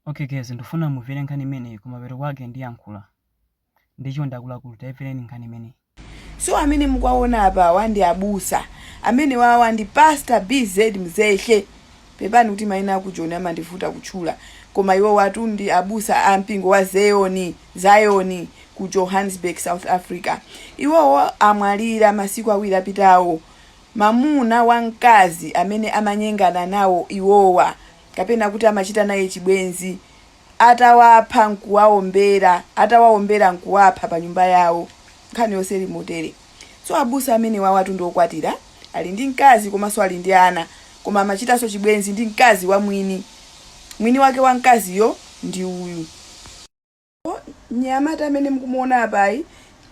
Ok guys ndufuna muvele nkhani imeneyi kumapeto kwake ndiyankhula nde chonde akuluakulu taiveleni nkhani imeneyi. So amene mukuwaona apawa ndi abusa. Amenewawa ndi pastor BZ Mzehe. Pepani kuti maina aku Joni amandivuta kutchula. Koma iwowatu ndi abusa a mpingo wa Zeyoni, Zion ku Johannesburg, South Africa. Iwowo amwalira masiku awiri apitawo. Mamuna wa mkazi amene amanyengana nawo iwowa. kapena kuti amachita naye chibwenzi, atawapha n'kuwaombera, atawaombera n'kuwapha pa nyumba yawo. Nkhani yonse ili motere. So abusa amenewawatu ndi okwatira, ali ndi mkazi komanso ali ndi ana, koma amachitanso chibwenzi ndi mkazi wa mwini. Mwini wake wa mkaziyo ndi uyu. mnyamata amene mukumuona apayi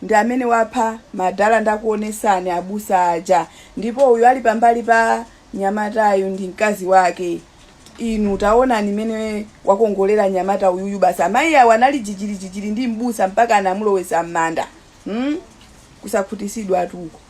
ndi amene wapha madala ndakuonesani abusa aja ndipo uyu ali pambali pa nyamatayu ndi mkazi wake inu taonani mmene wakongolera nyamata uyuyu basi amayi awo anali jijirijijiri ndi mbusa mpaka anamulowesa m'manda hmm? kusakhutisidwa atuko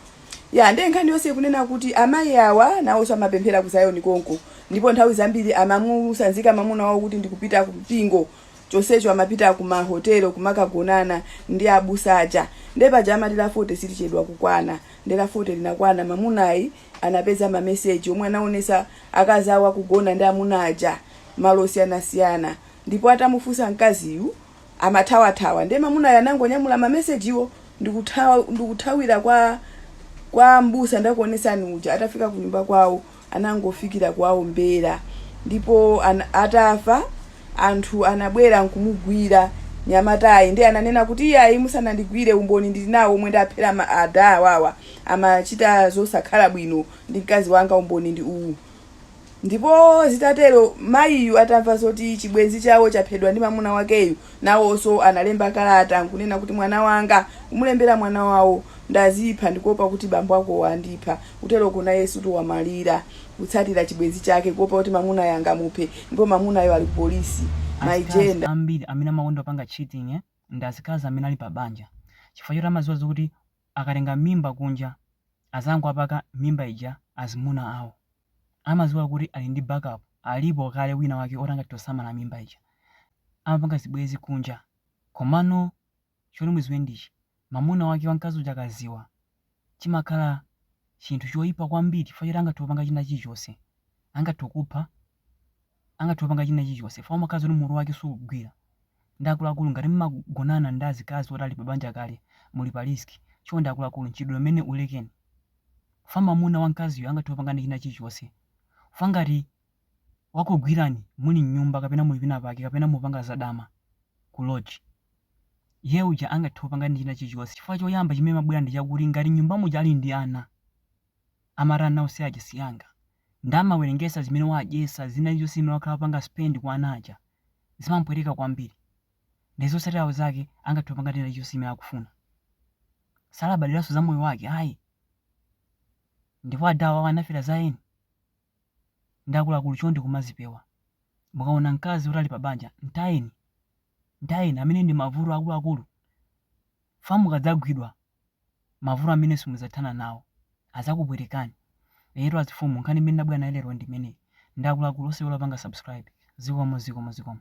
ya nde nkhani yonse ikunena kuti amayi awa nawonso amapemphera ku Zion konko ndipo nthawi zambiri amamusanzika mamuna wawo kuti ndikupita ku mpingo chonsecho amapita ku ma hotel kumakagonana ndi abusa aja nde paja amati la 40 silichedwa kukwana nde la 40 linakwana mamunayi anapeza ma message omwe anaonesa akazi awo kugona ndi amuna aja malo osiyanasiyana ndipo atamufunsa mkaziyu amathawathawa nde mamunayi anangonyamula ma message wo ndikuthawa ndikuthawira kwa kwa mbusa ndakuonesani uja atafika kunyumba kwawo anangofikira kuwaombera ndipo an, atafa anthu anabwera nkumugwira nyamatayi nde ananena kuti iyayi musanandigwire umboni ndili nawo omwe ndaphera ada awawa amachita zosakhala bwino ndi mkazi wanga umboni ndi uwu ndipo zitatero mayiyu atamva zoti chibwenzi chawo chaphedwa ndi mamuna wakeyu Nawonso analemba kalata n'kunena kuti, Mwana wanga, kumulembera mwana wawo, ndazipha, ndikuopa kuti bambo akowo andipha. Kuteroko nayeso wamwalira, kutsatira chibwenzi chake, kuopa kuti mamunayo angamuphe, ndipo mamunayo ali kupolisi. My gender. Azikazi ambiri amene amakonda kupanga cheating ndi azikazi amene ali pa banja chifukwa choti amaziwa zokuti akatenga mimba kunja azangowapaka mimba ija azimuna awo amaziwa kuti ali ndi back up alipo kale wina wake oti angathe kusamala mimba ija amapanga zibwezi kunja komano choti muziwe ndichi mamuna wake wankazi uja akaziwa chimakhala chinthu choyipa kwambiri chifukwa choti angathe kupanga china chilichose angathe kupha angathe kupanga china chilichonse chifukwa amakhala zoti mutu wake sukugwira. Nde akuluakulu ngati mmagonana ndi azikazi oti ali pa banja kale muli pa risk, chonde akuluakulu mchitidwe umenewu ulekeni chifukwa mamuna wa mkaziyo angathe kupangani china chilichonse chifukwa ngati wakugwirani muli mnyumba kapena muli kwina pake kapena mukupanga za dama ku lodge, iyeyo uja angathe kupangani china chilichonse chifukwa choyamba chimene chimabwera ndi chakuti ngati mnyumba muja ali ndi ana. amati ana ose aja sianga nde amawerengesa zimene wadyesa zina zilizonse zimene wakhala akupanga spend kwa ana aja zimamupweteka kwambiri nde zotsatilawo zake angathe kupanga china chilichonse chimene akufuna salabadilaso za moyo wake ayi ndipo ada awawa anafera za eni nde akuluakulu chonde kumazipewa mukaona mkazi woti ali pa banja ntayeni ntayeni amenewo ndi mavuto akuluakulu fa mukadzagwidwa mavuto amene simudzathana nawo adzakupwetekani eyetu azifumu nkhani imene ndabwera nayo lero ndi imeneyi nde akuluakulu osaiwala kupanga subscribe zikomo zikomo zikomo.